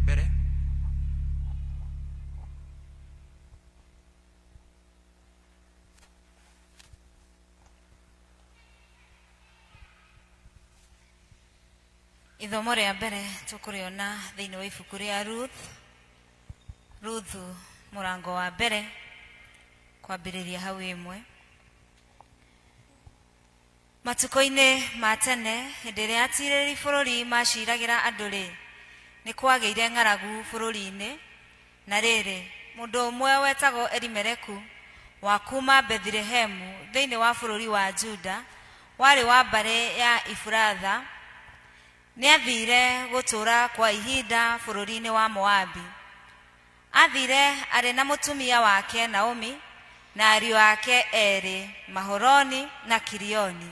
mbere. Ithomo rĩa mbere tũkũrĩona thĩinĩ wa ibuku rĩa Ruth. Ruth mũrango wa mbere kwambĩrĩria hau ĩmwe. Matukũ-inĩ ma tene, hĩndĩ ĩrĩa atiirĩrĩri bũrũri maaciiragĩra andũ-rĩ, nĩ kwagĩire ng'aragu bũrũri-inĩ. Na rĩrĩ, mũndũ ũmwe wetagwo Elimeleku, wa kuuma Bethilehemu thĩinĩ wa bũrũri wa Juda, warĩ wa mbarĩ ya Ifuratha, nĩ aathiire gũtũũra kwa ihinda bũrũri-inĩ wa Moabi. Aathiire arĩ na mũtumia wake Naomi na ariũ ake eerĩ Maholoni na Kilioni,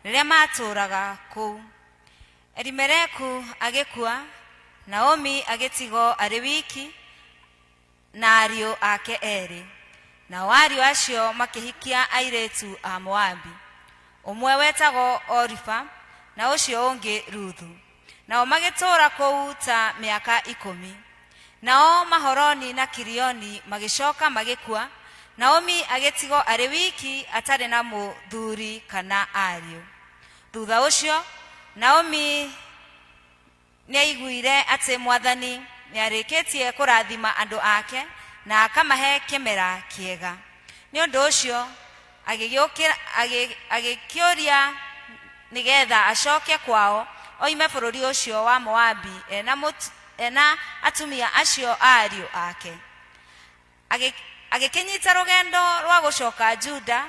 rĩrĩa maatũũraga kũu. Elimeleku agĩkua, Naomi agĩtigwo arĩ wiki na ariũ ake eerĩ. Nao ariũ acio makĩhikia airĩtu a Moabi. Ũmwe wetagwo Oripa na ũcio ũngĩ Ruthu. nao magĩtũũra kũu ta mĩaka ikũmi nao mahoroni na kirioni magĩcoka magĩkua naomi agĩtigwo arĩ wiki atarĩ na mũthuri kana ariũ thutha ũcio naomi nĩaiguire atĩ mwathani nĩarĩkĩtie kũrathima andũ ake na akamahe kĩmera kĩega nĩ ũndũ ũcio agĩgĩũkĩra- agĩ- agĩkĩũria nĩgetha acoke kwao oime bũrũri ũcio wa moabi ena, mũtu- ena atumia acio a ariũ ake Agĩ- agĩkĩnyita rũgendo rwa gũcoka juda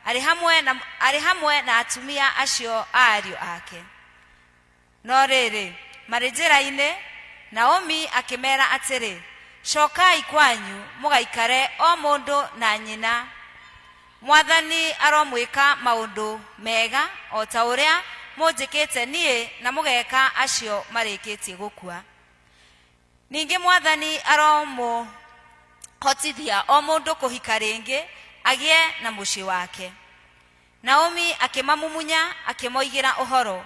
arĩ hamwe na, arĩ hamwe na atumia acio a ariũ ake No rĩrĩ, marĩ njĩra-inĩ, Naomi akĩmeera atĩrĩ, Cokai kwanyu mũgaikare o mũndũ na nyina. Mwathani aromwĩka maũndũ mega o ta ũrĩa mũnjĩkĩte niĩ na mũgeeka acio marĩkĩtie gũkua. Ningĩ Mwathani aromũhotithia o mũndũ kũhika rĩngĩ agĩe na mũciĩ wake. Naomi akĩmamumunya akĩmoigĩra ũhoro,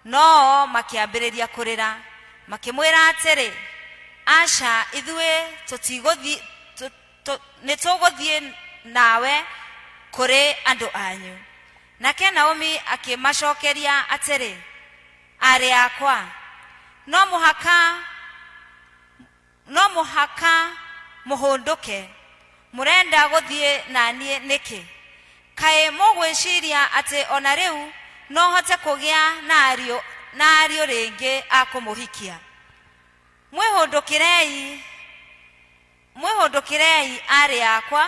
no-o makĩambĩrĩria kũrĩra. Makĩmwĩra atĩrĩ, Aca, ithuĩ tũtigũthiĩ, tũ- tũ- nĩtũgũthiĩ nawe kũrĩ andũ anyu. Nake Naomi akĩmacokeria atĩrĩ, Aarĩ akwa, no mũhaka No mũhaka mũhũndũke. Mũrenda gũthiĩ na niĩ nĩkĩ? Kaĩ mũgwĩciria atĩ o na rĩu no hote kũgĩa na ariũ na ariũ rĩngĩ a kũmũhikia? Mwĩhũndũkĩrei, mwĩhũndũkĩrei aarĩ akwa,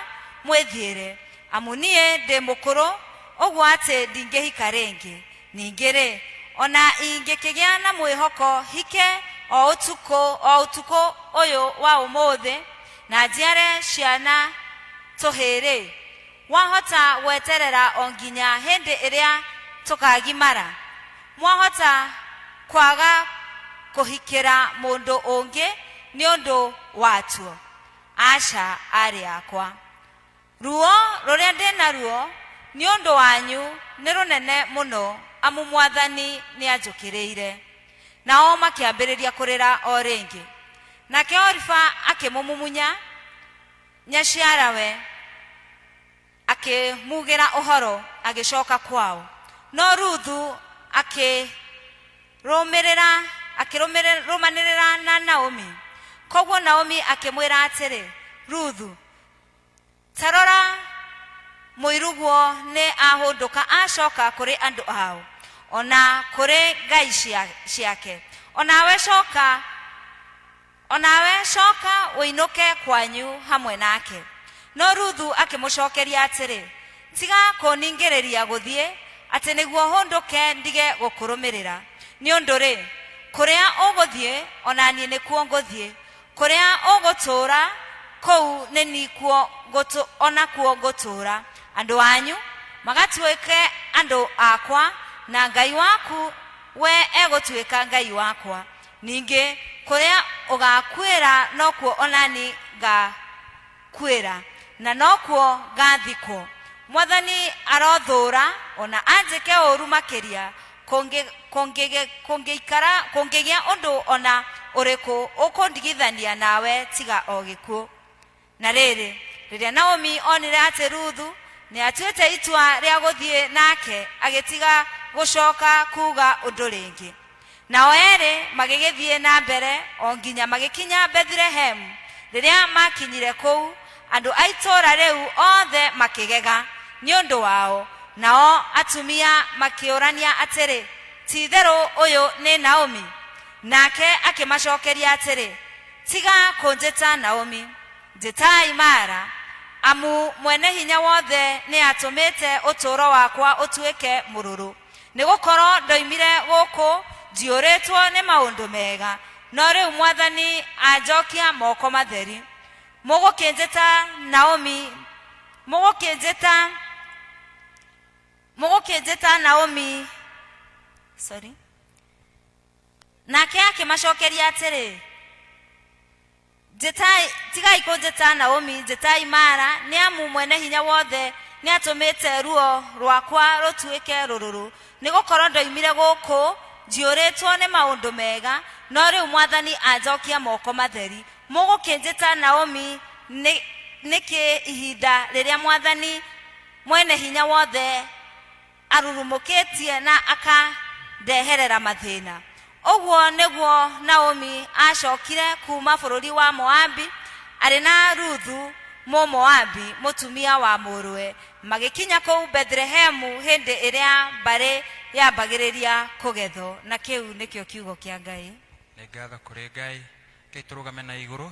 mwĩthiĩre, amu niĩ ndĩ mũkũrũ ũguo atĩ ndingĩhika rĩngĩ. Ningĩ-rĩ, o na ingĩkĩgĩa na mwĩhoko hike o ũtukũ, o ũtukũ ũyũ wa ũmũthĩ, na njiare ciana tũhĩĩ-rĩ, wahota gweterera o nginya hĩndĩ ĩrĩa tũkagimara? Mwahota kwaga kũhikĩra mũndũ ũngĩ nĩ ũndũ watuo? Aca, aarĩ akwa. Ruo rũrĩa ndĩ naruo nĩ ũndũ wanyu nĩ rũnene mũno, amu Mwathani nĩanjũkĩrĩire. Nao makĩambĩrĩria kũrĩra o rĩngĩ. Nake Oripa akĩmũmumunya nyaciarawe, akĩmuugĩra ũhoro, agĩcooka kwao. No Ruthu akĩrũmĩrĩra akĩrũmanĩrĩra na Naomi. Kwoguo Naomi akĩmwĩra atĩrĩ, Ruthu, Ta rora, mũiruguo nĩ ahũndũka acoka kũrĩ andũ ao, o na kũrĩ ngai cia, ciake. O nawe coka, o nawe coka ũinũke kwanyu hamwe nake. No Ruthu akĩmũcokeria atĩrĩ, Tiga kũningĩrĩria gũthiĩ, atĩ nĩguo hũndũke ndige gũkũrũmĩrĩra. Nĩ ũndũ-rĩ, kũrĩa ũgũthiĩ, o na niĩ nĩkuo ngũthiĩ, Kũrĩa ũgũtũũra, kũu nĩ nikuo ngũtũ, o nakuo ngũtũũra. Andũ anyu magatuĩke andũ akwa, na Ngai waku we egũtuĩka Ngai wakwa. Ningĩ kũrĩa ũgakuĩra nokuo o nani nga, kwĩra, na nokuo ngaathikwo. Mwathani arothũũra, o na anjĩke ũũru makĩria, kũngĩ- kũngĩ- kũngĩikara- kũngĩgĩa ũndũ o na ũrĩkũ ũkũndigithania nawe tiga o gĩkuũ. Na rĩrĩ, rĩrĩa Naomi onire atĩ Ruthu nĩatuĩte itua rĩa gũthiĩ nake, agĩtiga gũcooka kuuga ũndũ rĩngĩ. Nao eerĩ magĩgĩthiĩ na mbere o nginya magĩkinya Bethilehemu. Rĩrĩa maakinyire kũu, andũ a itũũra rĩu othe makĩgega nĩ ũndũ wao. Nao atumia makĩũrania atĩrĩ, Ti-itherũ ũyũ nĩ Naomi? Nake akĩmacookeria atĩrĩ, Tiga kũnjĩta Naomi, njĩtai Mara, amu Mwene-Hinya-Wothe nĩatũmĩte ũtũũro wakwa ũtuĩke mũrũrũ. nĩ gũkorwo ndoimire gũkũ njiyũrĩtwo nĩ maũndũ mega no rĩu mwathani anjokia moko matheri mũgũkĩnjĩta naomi mũgũkĩnjĩta mũgũkĩnjĩta naomi sorry nake akĩmacokeria atĩrĩ njetai tigai kũnjĩta naomi njetai mara nĩ amu mwene hinya wothe nĩ atũmĩte ruo rwakwa rũtuĩke rũrũrũ nĩ gũkorwo ndoimire gũkũ njiyũrĩtwo nĩ maũndũ mega no rĩu mwathani anjokia moko matheri mũgũkĩnjĩta naomi nĩ- nĩkĩ ihinda rĩrĩa mwathani mwene hinya wothe arurumũkĩtie na akandeherera mathĩna ũguo nĩguo naomi acokire kuma bũrũri wa moabi arĩ na ruthu mũmoabi mũtumia wa mũrũwe magĩkinya kũu bethlehemu hĩndĩ ĩrĩa mbarĩ yambagĩrĩria kũgethwo na kĩu nĩkĩo kiugo kĩa ngai Nĩ ngatho kũrĩ Ngai. Rekei tũrũgame na igũrũ.